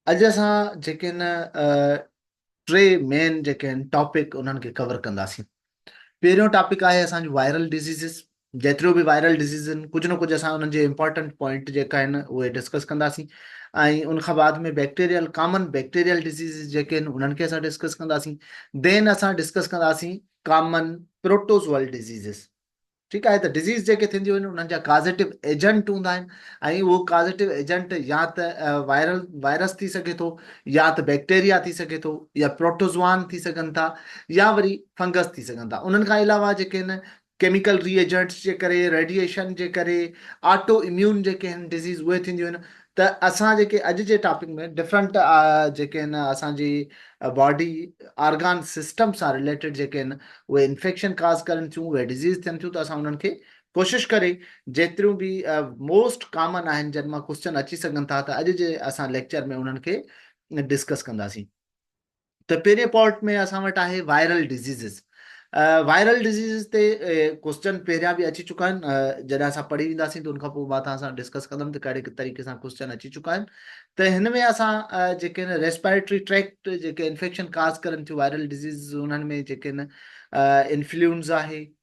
اڄ اسان جيڪي هن ٽي مين جيڪي آهن ٽاپڪ انهن کي ڪور ڪنداسين پهريون ٽاپڪ آهي اسان جو وائرل ڊزيزز جيتريون به وائرل ڊزيزز آهن ڪجهه نه ڪجهه اسان انهن جي امپارٽنٽ پوائنٽ جيڪا آهن اهي ڊسڪس ڪنداسين ۽ ان کان بعد ۾ بيڪٽيريل ڪامن بيڪٽيريل ڊزيزز جيڪي آهن انهن کي اسان ڊسڪس ڪنداسين دين اسان ڊسڪس ڪنداسين ڪامن پروٽوزوئل ڊزيزز ٺيڪ آهي ته ڊزيز جيڪي ٿينديون آهن انهن جا ڪازيٽو ايجنٽ هوندا آهن ۽ اهو ڪازيٽو ايجنٽ يا ته وائرل وائرس ٿي سگهي ٿو يا ته بيڪٽيريا ٿي سگهي ٿو يا پروٽوزوان ٿي سگهن ٿا يا وري فنگس ٿي سگهن ٿا انهن کان علاوه جيڪي هن ڪيميڪل ري ايجنٽس جي ڪري ريڊيئيشن جي ڪري آٽو اميون جيڪي هن ڊزيز اهي ٿينديون آهن ته اسان جيڪي اڄ جي ٽاپڪ ۾ ڊفرنٽ جيڪي آهن اسان جي باڊي آرگان سسٽم سان رليٽيڊ جيڪي آهن اهي انفيڪشن ڪاز ڪرن ٿيون اهي ڊزيز ٿين ٿيون ته اسان انهن کي ڪوشش ڪري جيتريون به موسٽ ڪامن آهن جن مان ڪوسچن اچي سگهن ٿا ته اڄ جي اسان ليڪچر ۾ انهن کي ڊسڪس ڪنداسين ته پهرين پارٽ ۾ اسان وٽ آهي وائرل ڊزيزز وائرل ڊزيزز تي ڪوسچن پهريان به اچي چڪا آهن جڏهن اسان پڙهي وينداسين ته ان کان پوء مان توهان سان ڊسڪس ڪندم ته ڪهڙي طريقي سان ڪوسچن اچي چڪا آهن ته هن ۾ اسان جيڪي آهن ريسپيريٽري ٽريڪٽ جيڪي انفيڪشن ڪاز ڪرن ٿيون وائرل ڊزيزز انهن ۾ جيڪي آهن انفلوئنزا آهي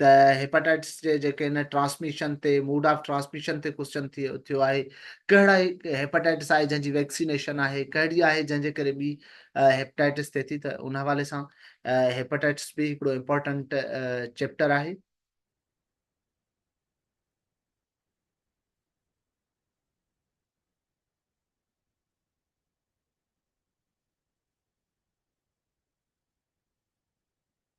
ته هيپاٽائٽس جي جيڪي ان ٽرانسميشن تي موڊ آف ٽرانسميشن تي ڪوسچن ٿيو آهي ڪهڙا هيپاٽائٽس آهي جنهن جي ويڪسينيشن آهي ڪهڙي آهي جنهن جي ڪري ٻي هيپاٽائٽس ٿئي ٿي ته ان حوالي سان هيپاٽائٽس به هڪڙو امپورٽنٽ چيپٽر آهي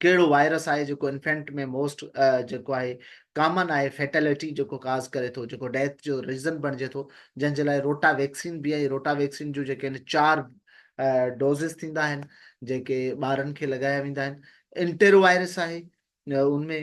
ڪهڙو وائرس آهي جيڪو انفينٽ ۾ موسٽ جيڪو آهي ڪامن آهي فيٽلٽي جيڪو ڪاز ڪري ٿو جيڪو ڊيٿ جو ريزن بڻجي ٿو جنهن جي لاء روٽا ويڪسين به آهي روٽا ويڪسين جون جيڪي آهن چار ڊوزز ٿيندا آهن جيڪي ٻارن کي لڳايا ويندا آهن انٽيرو وائرس آهي ان ۾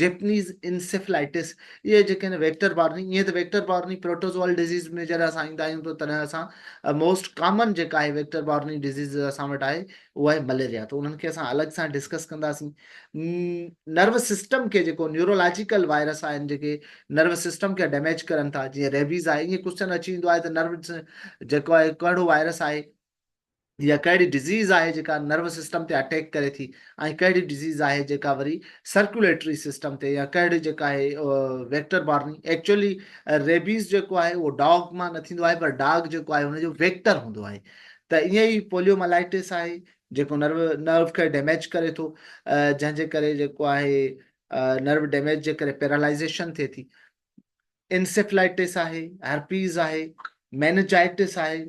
جيپنيز انسيفلائٽس اهي جيڪي آهن ويڪٽر بارني ائين ته ويڪٽر بارني پروٽوزوئل ڊزيز ۾ جڏهن اسان ايندا آهيون ته تڏهن اسان موسٽ ڪامن جيڪا آهي ويڪٽر بارني ڊزيز اسان وٽ آهي اهو آهي مليريا ته انهن کي اسان الڳ سان ڊسڪس ڪنداسين نروس سسٽم کي جيڪو نيورولاجيڪل وائرس آهن جيڪي نروس سسٽم کي ڊيميج ڪرن ٿا جيئن ريبيز آهي ائين ڪوشچن اچي ويندو آهي ته نروس جيڪو آهي ڪهڙو وائرس آهي يا ڪهڙي ڊزيز آهي جيڪا نروس سسٽم تي اٽيڪ ڪري ٿي ۽ ڪهڙي ڊزيز آهي جيڪا وري سرڪيوليٽري سسٽم تي يا ڪهڙي جيڪا آهي ويڪٽر بارني ايڪچولي ريبيز جيڪو آهي اهو ڊاگ مان نه ٿيندو آهي پر ڊاگ جيڪو آهي ان جو ويڪٽر هوندو آهي ته ائين ئي پوليو ملائيٽس آهي جيڪو نرو نرو کي ڊيميج ڪري ٿو جنهن جي ڪري جيڪو آهي نرو ڊيميج جي ڪري پيرالائزيشن ٿئي ٿي انسيفلائيٽس آهي هرپيز آهي مينجائيٽس آهي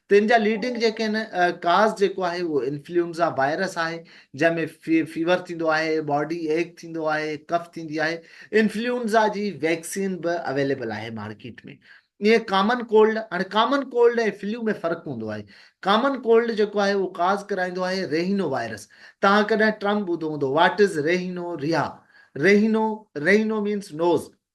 تن جا ليڊنگ جيڪي آهن ڪاز جيڪو آهي اهو انفلوئنزا وائرس آهي جنهن ۾ فيور ٿيندو آهي باڊي ايڪ ٿيندو آهي ڪف ٿيندي آهي انفلوئنزا جي ويڪسين به اويليبل آهي مارڪيٽ ۾ ائين ڪامن ڪولڊ هاڻي ڪامن ڪولڊ ۽ فلو ۾ فرق هوندو آهي ڪامن ڪولڊ جيڪو آهي اهو ڪاز ڪرائيندو آهي ريهينو وائرس توهان ڪڏهن ٽرم ٻڌو هوندو واٽ از ريهينو ريها ريهينو ريهينو مينس نوز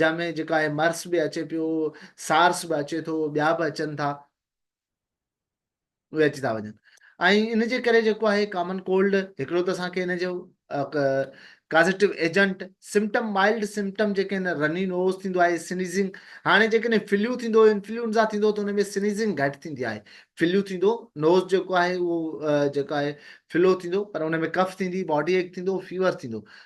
جنهن ۾ جيڪا آهي مرس به اچي پيو، سارس به اچي ٿو، ٻيا به اچن ٿا، اهي اچي ٿا وڃن ۽ ان جي ڪري جيڪو آهي ڪامن ڪولڊ هڪڙو ته اسان کي ان جو causative agent symptom mild symptom جيڪي آهن رني نوز ٿيندو آهي سنيزنگ هاڻي جيڪڏهن فليو ٿيندو انفلوئنزا ٿيندو ته ان ۾ سنيزنگ گهٽ ٿيندي آهي فليو ٿيندو نوز جيڪو آهي اهو جيڪو آهي فلو ٿيندو پر ان ۾ ڪف ٿيندي باڊي ايڪ ٿيندو فيور ٿيندو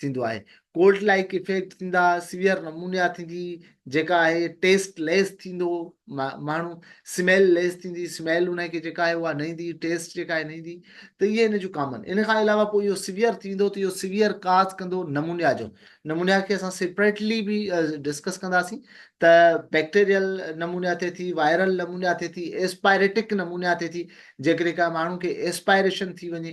ٿيندو آهي. ڪولڊ لائيڪ ايفيڪٽ ٿيندا، سيويئر نمونيا ٿيندي جيڪا آهي ٽيسٽ ليس ٿيندو ماڻهو، سميل ليس ٿيندي، سميل ان کي جيڪا آهي اها نه ايندي، ٽيسٽ جيڪا آهي نه ايندي ته اهي ان جون ڪامن. ان کان علاوه پوء اهو سيويئر ٿي ويندو ته اهو سيويئر ڪاز ڪندو نمونيا جو. نمونيا کي اسان سيپريٽلي به ڊسڪس ڪنداسين ته بيڪٽيريل نمونيا ٿئي ٿي، وائرل نمونيا ٿئي ٿي، ايسپائريٽڪ نمونيا ٿئي ٿي جيڪڏهن ڪا ماڻهو کي ايسپائريشن ٿي وڃي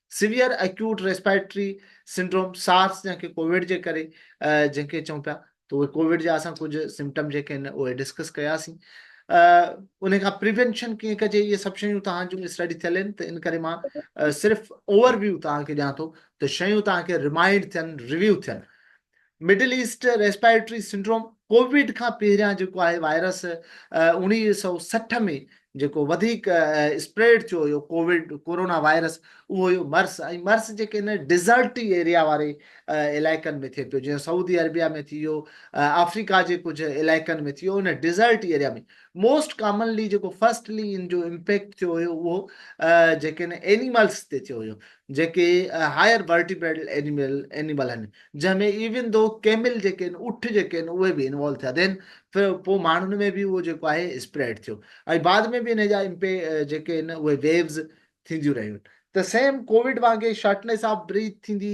severe acute respiratory syndrome, SARS جنهن کي ڪوويڊ جي ڪري جنهن کي چئون پيا ته اهي ڪوويڊ جا اسان ڪجهه سمپٽم جيڪي آهن اهي ڊسڪس ڪياسين ان کان پريونشن ڪيئن ڪجي اهي سڀ شيون توهان جون اسٽڊي ٿيل آهن ته ان ڪري مان صرف اوور ويو توهان کي ڏيان ٿو ته شيون توهان کي ريمائنڊ ٿين ريويو ٿين Middle East respiratory syndrome COVID کان پهريان جيڪو آهي وائرس اوڻيهه سؤ سٺ ۾ جيڪو وڌيڪ اسپريڊ ٿيو هيو ڪوويڊ ڪورونا وائرس اهو هيو مرس ۽ مرس جيڪي هن ڊيزرٽي ايريا واري علائقن ۾ ٿئي پيو جيئن سعودي عربيا ۾ ٿي ويو آفريڪا جي ڪجهه علائقن ۾ ٿي ويو ان ڊيزرٽي ايريا ۾ موسٽ ڪامنلي جيڪو فرسٽلي ان جو امپيڪٽ ٿيو هيو اهو جيڪي هن اينيملس تي ٿيو هيو جيڪي هائير ورٽيبريڊل اينيمل اينيمل آهن جنهن ۾ ايون دو ڪيمل جيڪي آهن اٺ جيڪي آهن اهي به انوالو ٿيا ڌين پر پوء ماڻهن ۾ به اهو جيڪو آهي اسپريڊ ٿيو ۽ بعد ۾ به انهي جا امپي جيڪي آهن اهي ويوز ٿينديون رهيون ته سيم ڪووڊ وانگي شارٽنيس آف بريٿ ٿيندي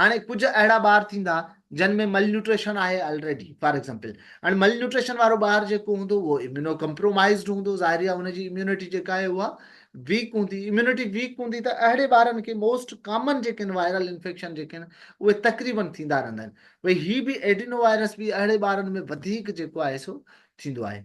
هاڻي ڪجهه اهڙا ٻار ٿيندا جن ۾ مل نيوٽريشن آهي الريڊي فار ايگزامپل هاڻي مل نيوٽريشن وارو ٻار جيڪو هوندو اهو اميونو ڪمپرومائيزڊ هوندو ظاهري آهي ان جي اميونٽي جيڪا آهي اها ويڪ هوندي اميونٽي ويڪ هوندي ته اهڙي ٻارن کي موسٽ ڪامن جيڪي آهن وائرل انفيڪشن جيڪي آهن اهي تقريبن ٿيندا رهندا آهن ڀئي هي به ايڊينو وائرس به اهڙي ٻارن ۾ وڌيڪ جيڪو آهي سو ٿيندو آهي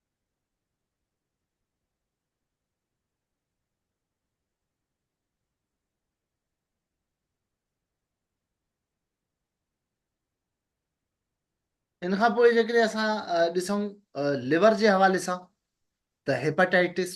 ان کان پوء جيڪڏهن اسان ڏسون ليور جي حوالي سان ته hepatitis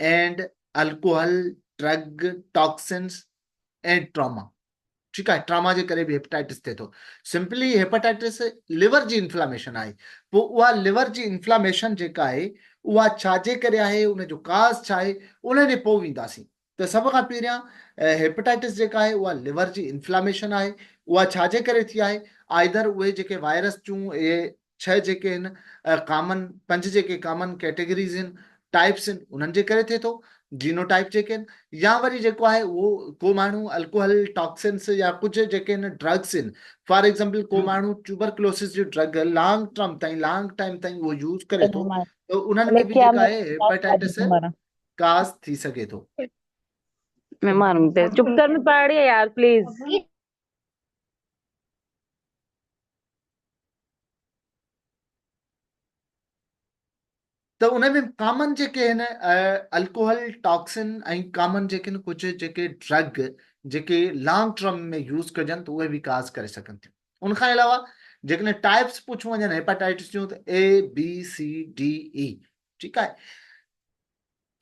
and alcohol drug toxins and trauma ٺيڪ آهي ٽراما جي ڪري به هيپاٽائٽس ٿئي ٿو سمپلي هيپاٽائٽس ليور جي انفلاميشن آهي پوء اها ليور جي انفلاميشن جيڪا آهي اها ڇاجي ڪري آهي ان جو ڪاز ڇا آهي ان ڏي پوء وينداسين ته سڀ کان پهريان هيپيٽائٽس جيڪا آهي اها ليور جي انفلاميشن آهي اها ڇا جي ڪري ٿي آهي آئدر اهي جيڪي وائرس چون اهي ڇهه جيڪي هن ڪامن پنج جيڪي ڪامن ڪيٽيگريز هن ٽائپس هن انهن جي ڪري ٿي ٿو جينو ٽائپ جيڪي هن يا وري جيڪو آهي اهو ڪو ماڻهو الڪوهل ٽاڪسنس يا ڪجهه جيڪي هن ڊرگس هن فار ايگزامپل ڪو ماڻهو ٽيوبرڪلوسس جي ڊرگ لانگ ٽرم تائين لانگ ٽائم تائين اهو يوز ڪري ٿو ته انهن ۾ به جيڪا آهي هيپيٽائٽس ڪاس ٿي سگهي ٿو. ۾ مارون تي چپ ڪر ۾ پاڙي يار پليز ته ان ۾ ڪامن جيڪي هن الڪوهل ٽاڪسن ۽ ڪامن جيڪي هن ڪجهه جيڪي ڊرگ جيڪي لانگ ٽرم ۾ يوز ڪجن ته اهي به ڪاز ڪري سگهن ٿيون ان کان علاوه جيڪڏهن ٽائپس پڇيون وڃن هيپاٽائٽس جون ته A B C D E ٺيڪ آهي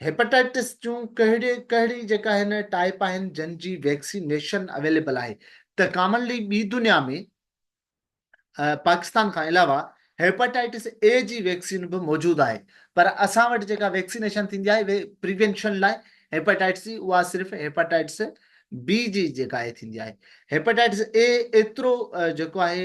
هيپاٽائٽس جون ڪهڙي ڪهڙي جيڪا هن ٽائپ آهن جن جي ويڪسينيشن اويليبل آهي ته ڪامنلي ٻي دنيا ۾ پاڪستان کان علاوه هيپاٽائٽس اي جي ويڪسين به موجود آهي پر اسان وٽ جيڪا ويڪسينيشن ٿيندي آهي پريونشن لاء هيپاٽائٽس جي اها صرف هيپاٽائٽس بي جي جيڪا ٿيندي آهي هيپاٽائٽس اي ايترو جيڪو آهي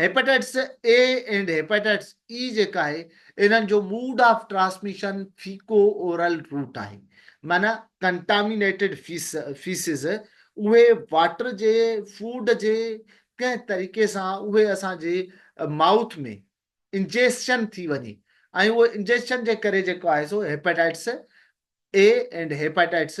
hepatitis A and hepatitis A جيڪا آهي انهن جو mode of transmission feco oral route آهي معنيٰ ڪنٽامينيٽيڊ فيسز اهي واٽر جي فوڊ جي ڪنهن طريقي سان اهي اسان جي مائوٿ ۾ انجيسشن ٿي وڃي ۽ اهو انجيسشن جي ڪري جيڪو آهي سو هيپاٽائٽس اي اينڊ هيپاٽائٽس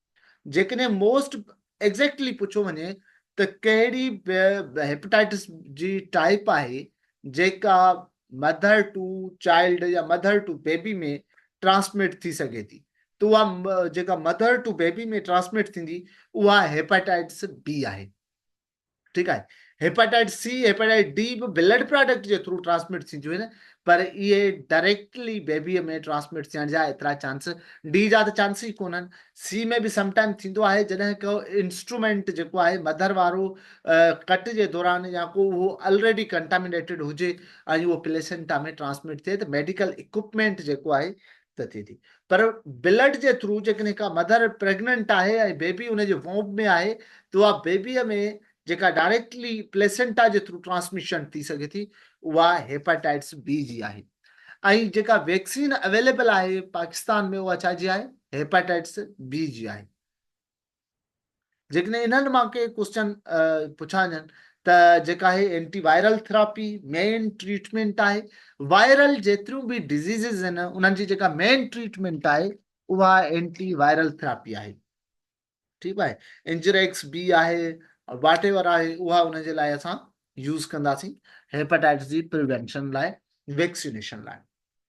جيڪڏهن موسٽ ايگزيڪٽلي پڇيو وڃي ته ڪهڙي به هيپيٽائٽس جي ٽائيپ آهي جيڪا مڌر ٽو چائلڊ يا مڌر ٽو بيبي ۾ ٽرانسمٽ ٿي سگهي ٿي ته اها جيڪا مڌر ٽو بيبي ۾ ٽرانسمٽ ٿيندي اها هيپيٽائٽس بي آهي. ٺيڪ آهي هيپاٽائٽس سي هيپاٽائٽس ڊي به بلڊ پراڊڪٽ جي ٿرو ٽرانسمٽ ٿينديون آهن پر اهي ڊائريڪٽلي بيبيء ۾ ٽرانسمٽ ٿيڻ جا ايترا چانس ڊي جا ته چانس ئي ڪونهن سي ۾ به سم ٽائم ٿيندو آهي جڏهن ڪو انسٽرومينٽ جيڪو آهي مڌر وارو ڪٽ جي دوران يا ڪو اهو الريڊي ڪنٽامينيٽيڊ هجي ۽ اهو پليسنٽا ۾ ٽرانسمٽ ٿئي ته ميڊيڪل اڪوپمينٽ جيڪو آهي ته ٿئي ٿي پر بلڊ جي ٿرو جيڪڏهن ڪا مڌر پريگننٽ آهي ۽ بيبي ان جي وومب ۾ آهي ته اها بيبيء ۾ جيڪا ڊائريڪٽلي پليسينٽا جي ٿرو ٽرانسميشن ٿي سگهي ٿي اها هيپاٽائٽس بي جي آهي ۽ جيڪا ويڪسين اويليبل آهي پاڪستان ۾ اها ڇا جي آهي هيپاٽائٽس بي جي آهي جيڪڏهن انهن مان ڪي ڪوسچن پڇاجن ته جيڪا هي anti viral therapy main treatment آهي وائرل جيتريون به ڊزيزز آهن انهن جي جيڪا مين ٽريٽمينٽ آهي اها اينٽي وائرل ٿراپي آهي ٺيڪ آهي انجريڪس بي آهي واٽ ايور آهي اها ان جي لاء اسان يوز ڪنداسين هيپاٽائٽس جي پريونشن لاء ويڪسينيشن لاء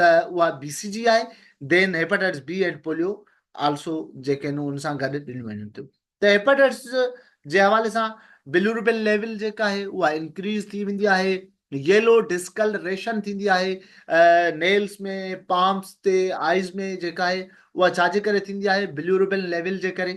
ته اها بي سي جي آهي then hepatitis B and polio also جيڪي آهن ان سان گڏ ڏنيون وڃن ٿيون ته هيپاٽائٽس جي حوالي سان بلوربين ليول جيڪا آهي اها انڪريز ٿي ويندي آهي ييلو ڊسڪل ريشن ٿيندي آهي نيلس ۾ پامس تي آئيز ۾ جيڪا آهي اها ڇا جي ڪري ٿيندي آهي بلوربين ليول جي ڪري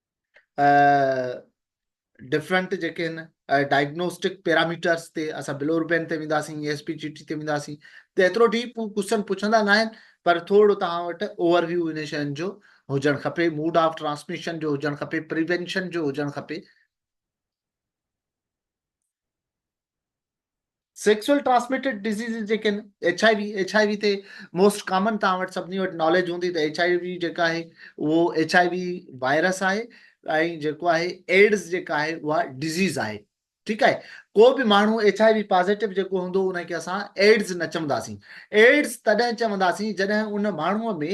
ڊفرنٽ جيڪي آهن ڊائگنوسٽڪ پيراميٽرس تي اسان بلو روبين تي وينداسين A S P G T تي وينداسين ته ايترو ڊيپ هو ڪوشچن پڇندا ناهن پر ٿورو توهان وٽ اوور ويو ان شين جو هجڻ کپي موڊ آف ٽرانسميشن جو هجڻ کپي پريونشن جو هجڻ کپي سيڪسوئل ٽرانسميٽيڊ ڊزيزز جيڪي آهن H I V H I V تي موسٽ ڪامن توهان وٽ سڀني وٽ ناليج هوندي ته ايڇ آء وي جيڪا آهي اهو ايڇ آء وي وائرس آهي ۽ جيڪو آهي ايڊز جيڪا آهي اها ڊزيز آهي ٺيڪ آهي ڪو به ماڻهو ايڇ آء وي پازيٽو جيڪو هوندو ان کي اسان ايڊز نه چونداسين ايڊز تڏهن چونداسين جڏهن ان ماڻهوء ۾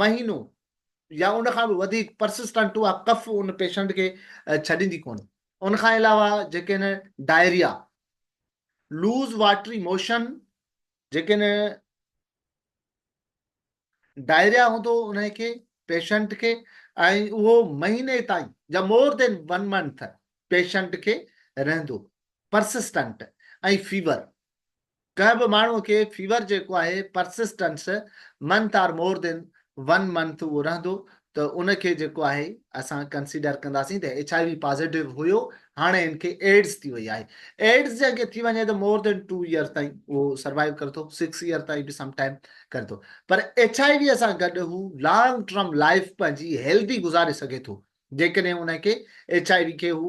مهينو يا ان کان به وڌيڪ Persistent اها ڪف ان پيشنٽ کي ڇڏيندي ڪونهي. ان کان علاوه جيڪڏهن ڊائريا، Loose Watery Motion جيڪڏهن ڊائريا هوندو ان کي پيشنٽ کي ۽ اهو مهيني تائين يا more than one month patient کي رهندو Persistent ۽ فيور. ڪنهن به ماڻهوء کي فيور جيڪو آهي persistence month or more than one month اهو رهندو ته ان کي جيڪو آهي اسان ڪنسيڊر ڪنداسين ته ايڇ آء وي پازيٽو هيو هاڻي هن کي ايڊز ٿي وئي آهي ايڊز جنهن کي ٿي وڃي ته مور دين ٽو ايئر تائين اهو سروائيو ڪري ٿو سڪس ايئر تائين به سم ٽائيم ڪري ٿو پر ايڇ آء ويء سان گڏ هو لانگ ٽرم لائيف پنهنجي هيلدي گذاري سگهي ٿو جيڪڏهن انهن کي ايڇ آء وي کي هو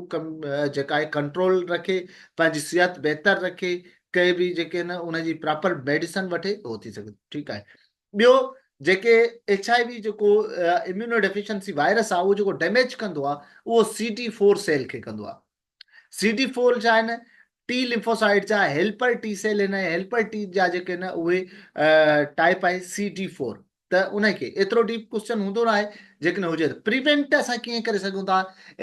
جيڪا آهي ڪنٽرول رکي پنهنجي صحت بهتر رکي ڪي به جيڪي نه ان جي پراپر ميڊيسن وٺي هو ٿي سگهي ٿو ٺيڪ آهي ٻيو جيڪي ايڇ آء وي جيڪو اميونو ڊيفيشنسي وائرس آهي اهو جيڪو ڊيميج ڪندو آهي اهو سي ڊي فور سيل کي ڪندو آهي سي ڊي فور جا هن ٽي لمفوسائيٽ جا هيلپر ٽي سيل هن هيلپر ٽي جا جيڪي هن اهي ٽائپ آهي سي ڊي فور ته ان کي ايترو ڊيپ ڪوشچن هوندو نه آهي جيڪڏهن هجي ته پريونٽ اسان ڪيئن ڪري سگهون ٿا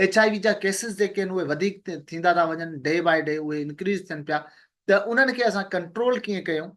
ايچ آء وي جا ڪيسز جيڪي آهن اهي وڌيڪ ٿيندا ٿا وڃن ڊي باء ڊي اهي انڪريز ٿين پيا ته انهن کي اسان ڪنٽرول ڪيئن ڪيون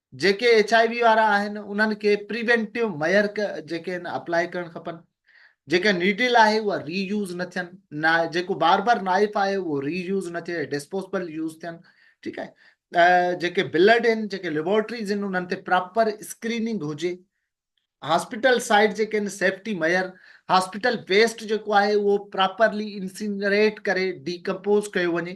جيڪي ايڇ آء وي وارا آهن انهن کي پريوينٽيو ميئرڪ جيڪي آهن اپلاء ڪرڻ کپن. جيڪا نيڊل آهي اها ري يوز نه ٿين. نا جيڪو بار بار نائف آهي اهو ري يوز نه ٿئي ڊسپوزبل يوز ٿين ٺيڪ آهي. جيڪي بلڊ آهن جيڪي ليبارٽريز آهن انهن تي پراپر اسڪريننگ هجي. هاسپيٽل سائيڊ جيڪي آهن سيفٽي ميئر هاسپيٽل ويسٽ جيڪو آهي اهو پراپرلي انسينريٽ ڪري ڊي ڪمپوز ڪيو وڃي.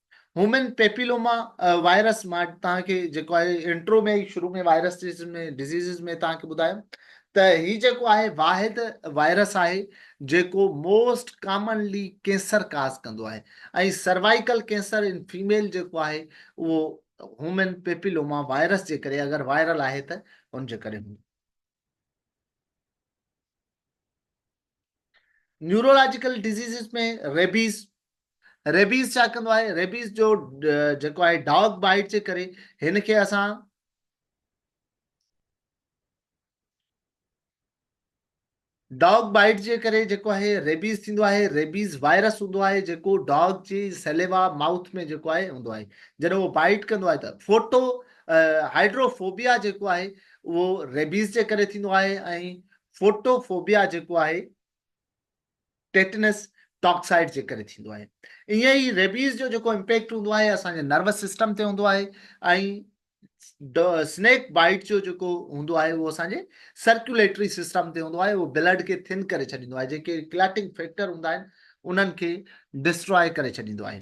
هيومن پيپيلوما وائرس مان توهان کي جيڪو آهي انٽرو ۾ شروع ۾ وائرس ۾ ڊزيزز ۾ توهان کي ٻڌايم ته هي جيڪو آهي واحد وائرس آهي جيڪو موسٽ ڪامنلي ڪينسر ڪاز ڪندو آهي ۽ سروائيڪل ڪينسر ان فيميل جيڪو آهي اهو هيومن پيپيلوما وائرس جي ڪري اگر وائرل آهي ته ان جي ڪري نيورولاجيڪل ڊزيزز ۾ ريبيز ريبيز ڇا ڪندو آهي ريبيز جو جيڪو آهي ڊاگ بائيٽ جي ڪري هن کي اسان ڊاگ بائيٽ جي ڪري جيڪو آهي ريبيز ٿيندو آهي ريبيز وائرس هوندو آهي جيڪو ڊاگ جي سيليوا ماؤٿ ۾ جيڪو آهي هوندو آهي جڏهن اهو بائيٽ ڪندو آهي ته فوٽو هائڊروفوبيا جيڪو آهي اهو ريبيز جي ڪري ٿيندو آهي ۽ فوٽو فوبيا جيڪو آهي ٽيٽنس ٽاڪسائيڊ جي ڪري ٿيندو آهي ائين ئي ريبيز جو جيڪو امپيڪٽ هوندو آهي اسان جي نروس سسٽم تي هوندو آهي ۽ سنيڪ بائيٽ جو جيڪو هوندو آهي اهو اسان جي سرڪيوليٽري سسٽم تي هوندو آهي اهو بلڊ کي ٿن ڪري ڇڏيندو آهي جيڪي ڪليٽنگ فيڪٽر هوندا آهن انهن کي ڊسٽراء ڪري ڇڏيندو آهي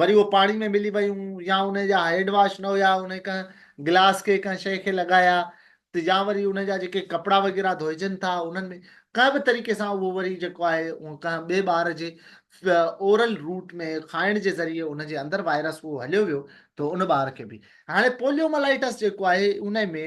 وري اهي پاڻي ۾ ملي ويون يا انهي جا هيڊ واش نه هيا انهي ڪنهن گلاس کي ڪنهن شئي کي لڳايا ته يا وري انهي جا جيڪي ڪپڙا وغيره ڌوئجن ٿا انهن ۾ ڪنهن به طريقي سان اهو وري جيڪو آهي اهو ڪنهن ٻئي ٻار جي اورل روٽ ۾ کائڻ جي ذريعي ان جي اندر وائرس اهو هليو ويو ته ان ٻار کي به هاڻي پوليوملائيٽس جيڪو آهي انهي ۾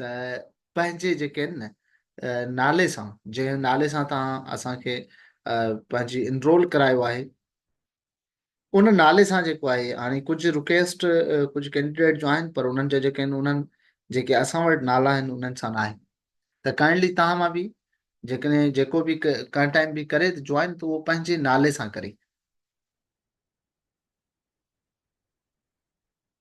ته پنهنجي جيڪي آهن نه نالي سان جنهن نالي سان توهان اسان کي پنهنجي انرول ڪرايو آهي ان نالي سان جيڪو آهي هاڻي ڪجهه رڪويسٽ ڪجهه ڪينڊيڊيٽ جو آهن پر انهن جا جيڪي آهن انهن جيڪي اسان وٽ نالا آهن انهن سان آهن ته ڪائنڊلي توهان مان به جيڪڏهن جيڪو به ڪنهن ٽائيم به ڪري ته جوائن ته اهو پنهنجي نالي سان ڪري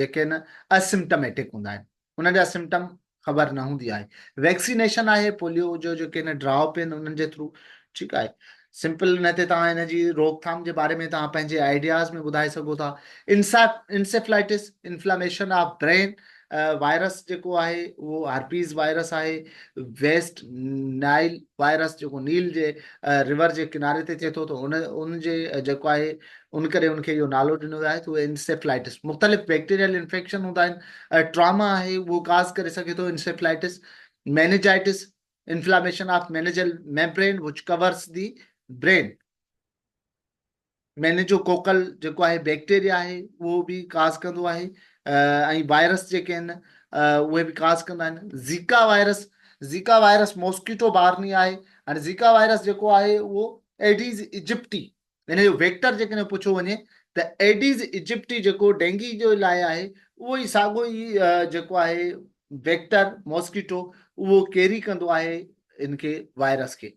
جيڪي نه اسمٽميٽڪ هوندا آهن انهن جا سمٽم خبر نه هوندي آهي ويڪسينيشن آهي پوليو جو جيڪي نه ڊراپ آهن انهن جي ٿرو ٺيڪ آهي سمپل ان تي توهان ان جي روڪٿام جي باري ۾ توهان پنهنجي آئيڊياز ۾ ٻڌائي سگهو ٿا encephalitis inflammation of brain virus جيڪو آهي اهو هرپيز وائرس آهي. ويسٽ نائل وائرس جيڪو نيل جي ريور جي ڪناري تي ٿئي ٿو ته ان ان جي جيڪو آهي ان ڪري ان کي اهو نالو ڏنو ويو آهي ته اهو انسيفلائٽس مختلف بيڪٽيريل انفيڪشن هوندا آهن ٽراما آهي اهو ڪاز ڪري سگهي ٿو encephalitis meningitis inflammation of meningeal membrane which covers the brain meningococcal جيڪو آهي بيڪٽيريا آهي اهو به ڪاز ڪندو آهي ۽ وائرس جيڪي آهن اهي به ڪاز ڪندا آهن Zika virus Zika virus mosquito borne آهي هاڻي زيڪا وائرس جيڪو آهي اهو ايڊيز ايجپٽي ان جو ويڪٽر جيڪڏهن پڇيو وڃي ته ايڊيز ايجپٽي جيڪو ڊينگي جو لاء آهي اهو ئي ساڳو ئي جيڪو آهي ويڪٽر موسڪيٽو اهو ڪيري ڪندو آهي ان کي وائرس کي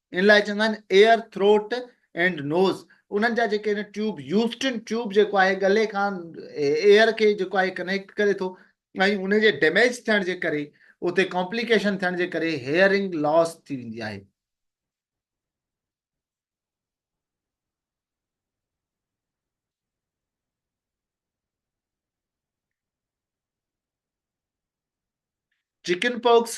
ان لاء چوندا آهن ايئر ٿروٽ اينڊ نوز انهن جا جيڪي آهن ٽيوب يوسٽن ٽيوب جيڪو آهي ڳلي کان ايئر کي جيڪو آهي ڪنيڪٽ ڪري ٿو ۽ ان جي ڊيميج ٿيڻ جي ڪري اتي ڪامپليڪيشن ٿيڻ جي ڪري هيئرنگ لاس ٿي ويندي آهي چڪن پوڪس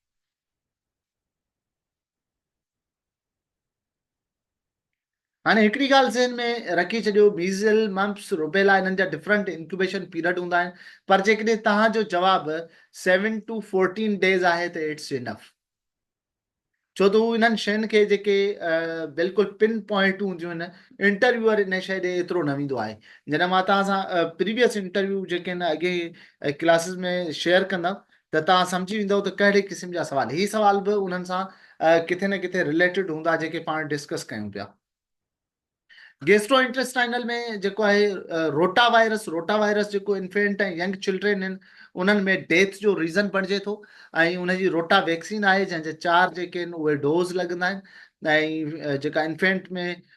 هاڻي هڪڙي ڳالهه ذهن ۾ رکي ڇڏيو ميزل، ممپس، روبيلا انهن جا ڊفرنٽ انڪيوبيشن پيرڊ هوندا آهن پر جيڪڏهن توهان جو جواب سيون ٽو فورٽين ڊيز آهي ته اٽس انف ڇو ته هو انهن شين کي جيڪي بلڪل پن پوائنٽون هونديون آهن انٽرويوئر ان شي ڏي ايترو نه ويندو آهي جڏهن مان توهان سان پريويس انٽرويو جيڪي هن اڳين ڪلاسز ۾ شيئر ڪندم ته توهان سمجهي ويندؤ ته ڪهڙي قسم جا سوال. هي سوال به انهن سان ڪٿي نه ڪٿي رليٽيڊ هوندا جيڪي پاڻ ڊسڪس ڪيون پيا. گيسٽروانٽيسٽائنل ۾ جيڪو آهي روٽا وائرس، روٽا وائرس جيڪو انفينٽ ۽ ينگ چلڊرين آهن انهن ۾ ڊيٿ جو ريزن بڻجي ٿو ۽ ان جي روٽا ويڪسين آهي جنهن جا چار جيڪي آهن اهي ڊوز لڳندا آهن ۽ جيڪا انفينٽ ۾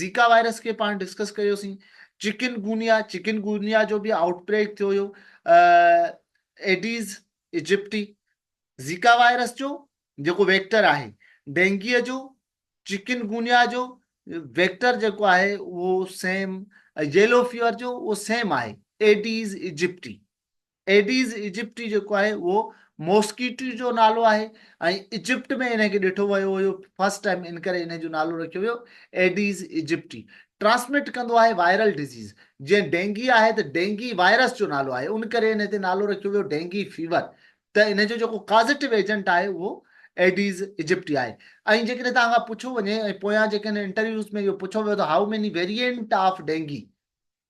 زيڪا وائرس کي پاڻ ڊسڪس ڪيو سين، چڪن گونيا، چڪن گونيا جو به آئوٽ بريڪ ٿيو هيو، ايڊيز ايجپٽي، زيڪا وائرس جو جيڪو ويڪٽر آهي، ڊينگيء جو، چڪن گونيا جو ويڪٽر جيڪو آهي اهو سيم، ييلو فيور جو اهو سيم آهي، ايڊيز ايجپٽي. ايڊيز ايجپٽي جيڪو آهي اهو موسڪيٽو جو نالو آهي ۽ ايجپٽ ۾ ان کي ڏٺو ويو هيو فرسٽ ٽائيم ان ڪري ان جو نالو رکيو ويو ايڊيز ايجپٽي ٽرانسمٽ ڪندو آهي وائرل ڊزيز جيئن ڊينگي آهي ته ڊينگي وائرس جو نالو آهي ان ڪري ان تي نالو رکيو ويو ڊينگي فيور ته ان جو جيڪو ڪازيٽو ايجنٽ آهي اهو ايڊيز ايجپٽي آهي ۽ جيڪڏهن توهان کان پڇو وڃي ۽ پويان جيڪڏهن انٽرويوز ۾ اهو پڇو ويو ته how many variant of dengue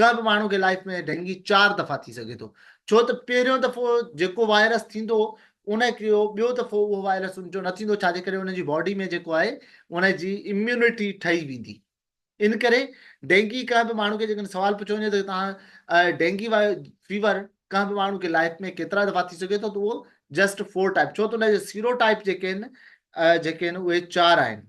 ڪنهن به ماڻهو کي لائيف ۾ ڊينگي چار دفعا ٿي سگهي ٿو ڇو ته پهريون دفعو جيڪو وائرس ٿيندو ان کي ٻيو دفعو اهو وائرس ان جو نه ٿيندو ڇا جي ڪري ان جي باڊي ۾ جيڪو آهي ان جي اميونٽي ٺهي ويندي ان ڪري ڊينگي ڪنهن به ماڻهو کي جيڪڏهن سوال پڇيو وڃي ته تان ڊينگي فيور ڪنهن به ماڻهو کي لائف ۾ ڪيترا دفعا ٿي سگهي ٿو ته اهو جسٽ فور ٽائپ ڇو ته ان جي سيرو ٽائپ جيڪي آهن جيڪي آهن اهي چار آهن